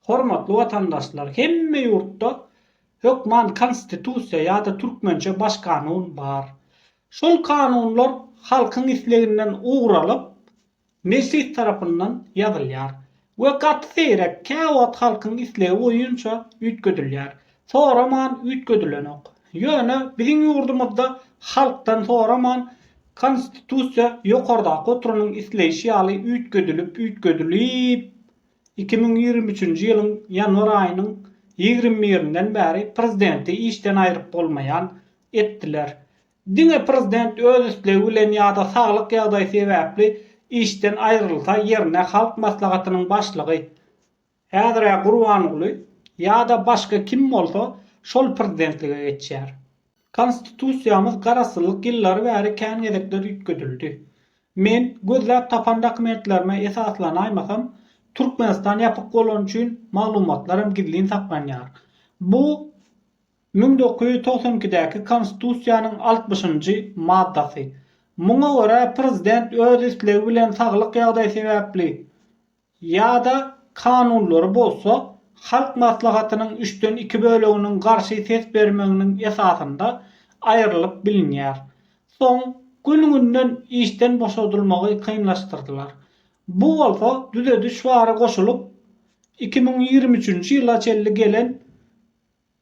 Hormatly watandaşlar hemme ýurtda hökman konstitusiýa ýada türkmençe baş kanun bar. Şol kanunlar halkyň isleginden ugur alyp mejlis tarapyndan ýazylýar we gaty seýrek käwagt halkyň islegi boýunça üýtgedilýär. Soraman üýtgedilenok. Ýöne biziň ýurdumyzda halkdan soraman konstitusiýa ýokardaky oturanyň isleýşi ýaly üýtgedilip üýtgedilip Iki müň ýigrimi üçünji ýylyň ýanwar aýynyň ýigrimi birinden bäri prezidenti işden aýryp bolmaýan etdiler. Diňe prezident öz islegi bilen ýa-da saglyk ýagdaýy sebäpli işden aýrylsa ýerine Halk Maslahatynyň başlygy, häzir-ä Gurbanguly, ýa-da başga kim bolsa şol prezidentlige geçýär. Konstitusiýamyz garaşsyzlyk ýyllary bäri kän gezekler üýtgedildi. Men, gözläp tapan dokumentlerime esaslanaýmasam, Türkmenistan ýapyk bolany üçin maglumatlaram gizlin saklanýar. Bu müň dokuz ýüz togsan ikidäki Konstitusiýanyň altmyşynjy maddasy. Muňa görä, prezident öz islegi bilen saglyk ýagdaýy sebäpli, ýa-da kanunlary bolsa Halk Maslahatynyň üçden iki böleginiň garşy ses bermeginiň esasynda aýrylyp bilinýär. Soň günüňinden işden boşadylmagy kynlaşdyrdylar. Bu bolsa düzediş bary goşulyp, iki müň ýigrimi üçünji ýyla çenli gelen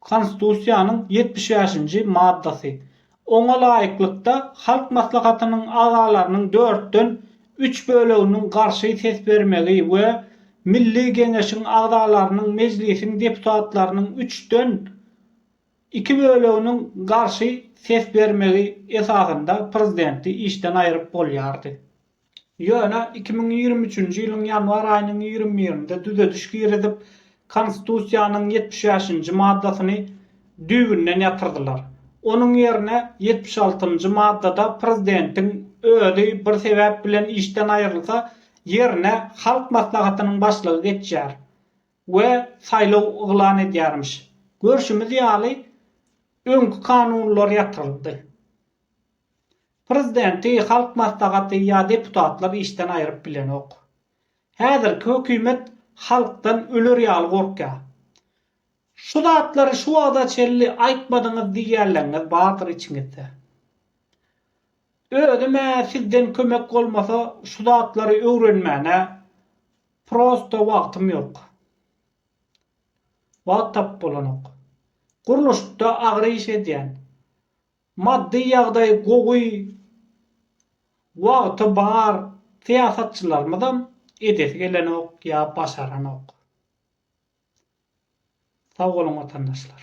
Konstitusiýanyň ýetmiş bäşinji maddasy. Oňa laýyklykda, Halk Maslahatynyň agzalarynyň dörtden üç böleginiň garşy ses bermegi we Milli Geňeşiň agzalarynyň Mejlisiň deputatlarynyň üçden iki böleginiň garşy ses bermegi esasynda prezidenti işden aýryp bolýardy. Ýöne iki müň ýigrimi üçünji ýylyň ýanwar aýynyň ýigrimi birinde düzediş girizip, Konstitusiýanyň ýetmiş bäşinji maddasyny düýbünden ýatyrdylar. Onuň ýerine ýetmiş altynjy maddada prezidentiň özi bir sebäp bilen işden aýrylsa, ýerine Halk Maslahatynyň başlygy geçýär we saýlaw yglan edýärmiş. Görşümiz ýaly, öňki kanunlar ýatyryldy. Prezidenti Halk Maslahaty ýa deputatlar işden aýryp bilenok. Häzirki hökümet halkdan öler ýaly gorkýar. Şu zatlary şu wagta çenli aýtmadyňyz diýýänleňňiz bardyr içiňizde. Özüm-ä sizden kömek bolmasa şu zatlary öwrenmäne prosto wagtym ýok. Wagt tapyp bolanok. Gurluşykda agyr iş edýän. Maddy ýagdaýy gowy, wagty bar syýasatçylarymyzam edesi gelenok ýa başaranok. Sag boluň watandaşlar.